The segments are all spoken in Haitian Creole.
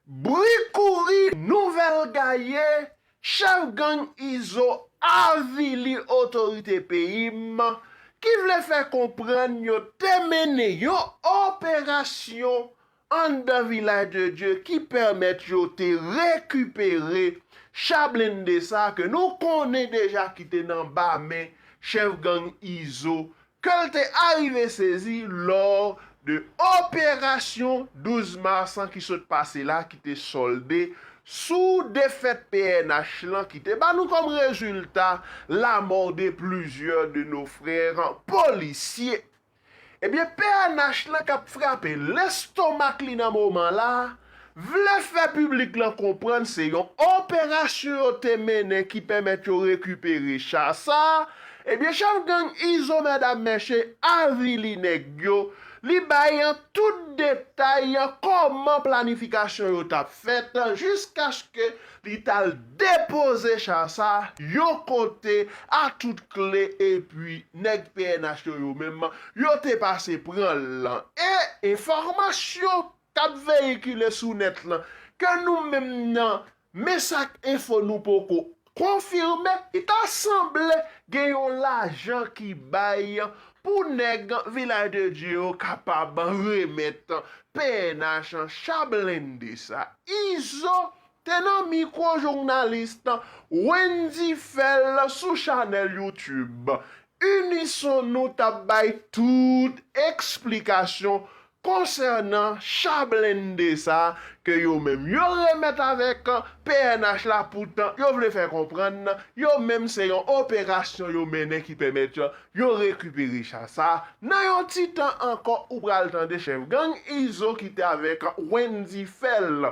Bri kouri, nouvèl gaye, chèf gang Izo avili otorite peyi m ki vle fè konprann yo te mennen yon operasyon anndan Vilaj de Dye ki pèmèt yo te rekipere cha blende sa ke nou konnen deja ki te nan ba men chèf gang Izo ke l te arive sezi lò de operasyon 12 mas an ki sot pase la ki te sòlde sou defèt pnh lan ki te ba nou kòm rezilta lamò de plizyè de no frè polisye. Ebyen pnh lan k ap frape lestomak li nan moman la, vle fè piblik lan konprann se yon operasyon yo te mennen ki pèmèt yo rekipere cha sa, ebyen chèf gang Izo Mèdam Mèche avili nèg yo, li bay an tout detay an kòman planifikasyon yo t ap fèt jiskaske li t al depoze cha sa yon kote a tout kle epi nèg pnh yo yo menm yo te pase pran l lan e enfòmasyon k ap veyikile sou nèt lan, ke nou menm nan Messac Info nou poko konfime, li ta sanble gen yon lajan ki bay pou nèg Village de Dieu yo kapab remèt pnh cha blende sa. Izo Te nan mikwo journalis Wendy Phel sou chanèl YouTube Unison nou tap bay tout eksplikasyon konsènan cha blende sa ke yo menm yo remèt avèk pnh la poutan yo vle fè konprann yo menm se yon operasyon yo mennen ki pèmèt yo rekipere cha sa nan yon ti tan ankò ou pral tande chèf gang Izo ki te avèk Wendy Phel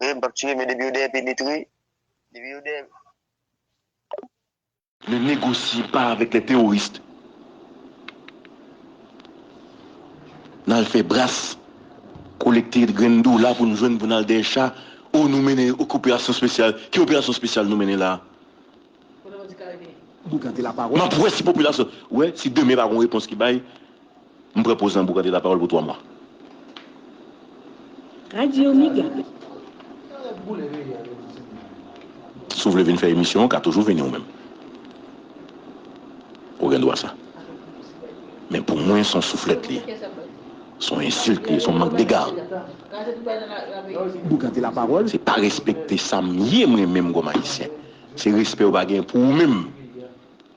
Wi m pap tire men depi yo dèyè pilit wi depi yo dèyè. Ne négociez pas avec les terroristes nal fè bras kolekte grenn dola pou nou jwenn pou nal dèyè cha oh nou mennen operasyon spesyal ki operasyon spesyal nou mennen la. Map wè si popilasyon wè si demen pa gon repons ki bay m pran poz lan pou gade lapawòl pou 3 mwa. Radio Mega. Si w vle vin fè emisyon ou ka toujou vini ou menm. Ou gen dwa sa. Men pou mwen son souflèt li ye. Son ensilt li ye, son mank dega. Se pa respekte sa m ye mwen menm kòm ayisyen. Se respè ou pa genyen pou ou menm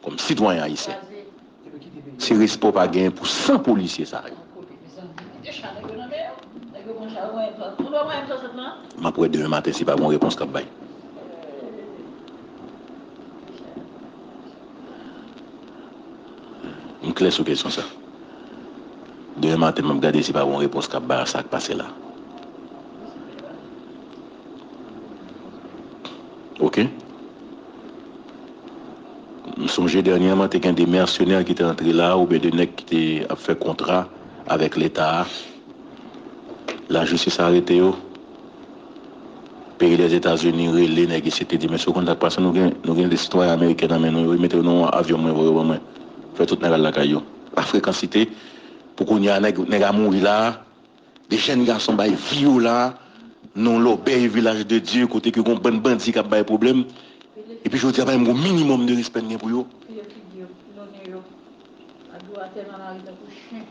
kòm sitwayen ayisyen. Se respè ou pa genyen pou san polisye sa yo. M ap wè demen maten si pa gon repons k ap bay. M klè sou kesyon sa. Demen maten m ap gade si pa gon repons k ap bay a sa k pase la. Ok. M sonje dènyèman te gen de mèsenè ki te antre la oubyen de nèg ki te ap fè kontra avèk leta a. Lajistis arete yo. Peyi Lèzetazini rele nèg isit li di mesye ou konn sa k pase nou gen nou gen de sitwayen ameriken nan men nou yo wi mete yo nan yon avyon mwen voye yo ban mwen. Fè tout nèg al lakay yo. Pa frekansite pou kounye a nèg nèg a mouri la a 2 jèn gason bay Viola non lòbèy vilaj de Dye kote ke gon bann bandi kap bay pwoblèm epi jodi a pa menm gon minimòm de respè n gen pou yo. Fè yo figi yo nonnen yo a dwatè nan lari tankou chen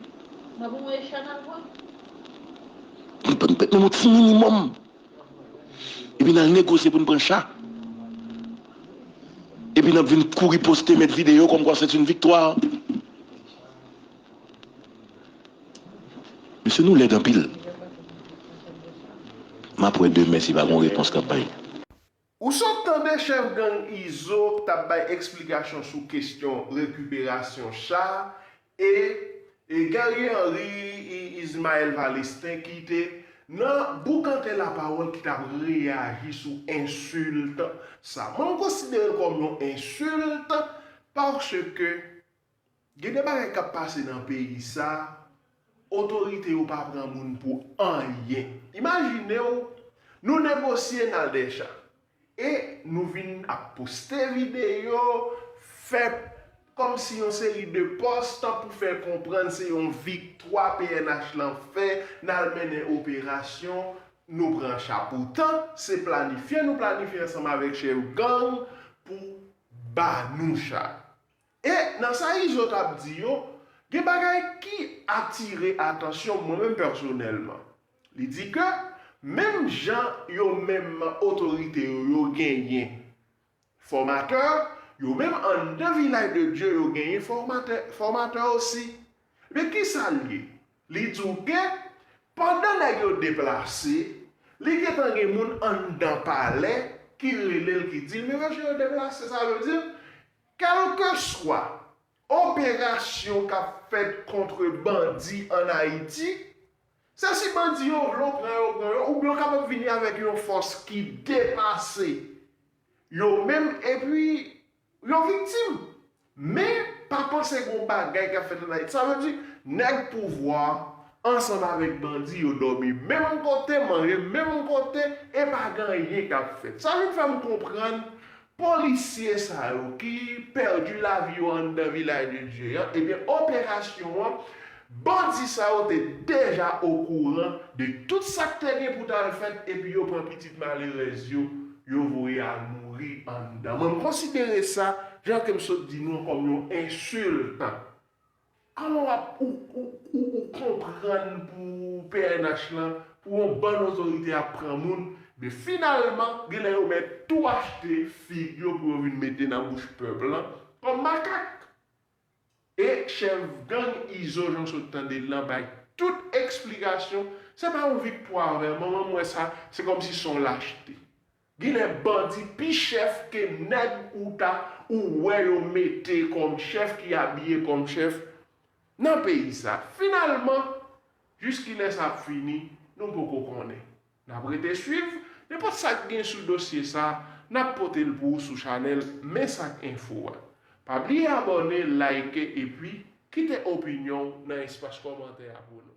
nan pou mwen e chat nal pran. Nou pa menm yon ti minimòm epi nal negosye pou n pran chat epi nap vin kouri poste met videyo kòmkwa sèt yn viktwa. Mesye nou lèd anpil. Map wè demen si pa gon repons kap bay. Ou sot tande chèf gang Izo k tap bay eksplikasyon sou kestyon rekiperasyon cha e e Gary Henry e Ismael Valestin ki te nan boukante lapawòl ki tap reyaji sou ensilt sa. Mwen m konsidere l kòm yon ensilt paske Gen de bagay kap pase nan peyi sa otorite yo pa pran moun pou anyen imajinew nou negosye nal dècha e nou vin ap poste videyo fè kòmsi yon seri de pòs tan pou fè konprann se yon viktwa pnh lan fè nal mennen operasyon nou pran cha poutan se planifye nou planifye ansanm avèk chèf gang pou banou cha E nan sa Izo t ap di yo, gen bagay ki atire atansyon m mwen menm pèsonèlman. Li di ke menm jan yo menm otorite yo, yo genyen fòmatè, yo menm anndan Vilaj de Dye yo genyen fòmatè fòmatè osi. Ebyen ki sa l ye? Li di w ke pandan nèg yo deplase, li gen tan gen moun anndan palè ki rele l ki di l men mesye yo deplase sa vle di Kèlkeswa operasyon k ap fèt kontre bandi ann Ayiti, se si bandi yo vle w pran yo pran yo oubyen yo kapab vini avèk yon fòs ki depase yo menm epi yo viktim. Men, pa panse gen yon bagay k ap fèt ann Ayiti. Sa vle di, nèg pouvwa a ansanm avèk bandi yo dòmi menm kote, manje menm kote e pa gen anyen k ap fèt. Sa vin fè m konprann Polisye sa yo ki pèdi lavi yo anndan Vilaj de Dye an, ebyen operasyon an, bandi sa yo te deja okouran de tout sa k te gen pou t al fèt epi yo pran pitit malerèz yo, yo voye al mouri anndan. Mwen m konsidere sa, jan ke m sot di nou an, kòm yon ensilt. Alò wap ou konprann pou pnh lan pou yon bann otorite ap pran moun men finalman genlè yo mèt tou achte fig yo pou yo vin mete nan bouch pèp lan kòm makak. E chèf gang Izo jan sot tande l lan bay tout eksplikasyon se pa yon viktwa vè manman m wè sa se kòmsi son lachte. Ginlè bandi pi chèf ke nèg ou ta ou wè yo mete kòm chèf ki abiye kòm chèf nan peyi sa. Finalman, jis kilè sa ap fini, nou poko konnen. N ap rete swiv, nenpòt sa k gen sou dosye sa, n ap pote l pou ou sou chanèl Mensak Enfo a. Pa bliye abòne, layike epi kite opinyon w nan espas kòmantè a pou nou.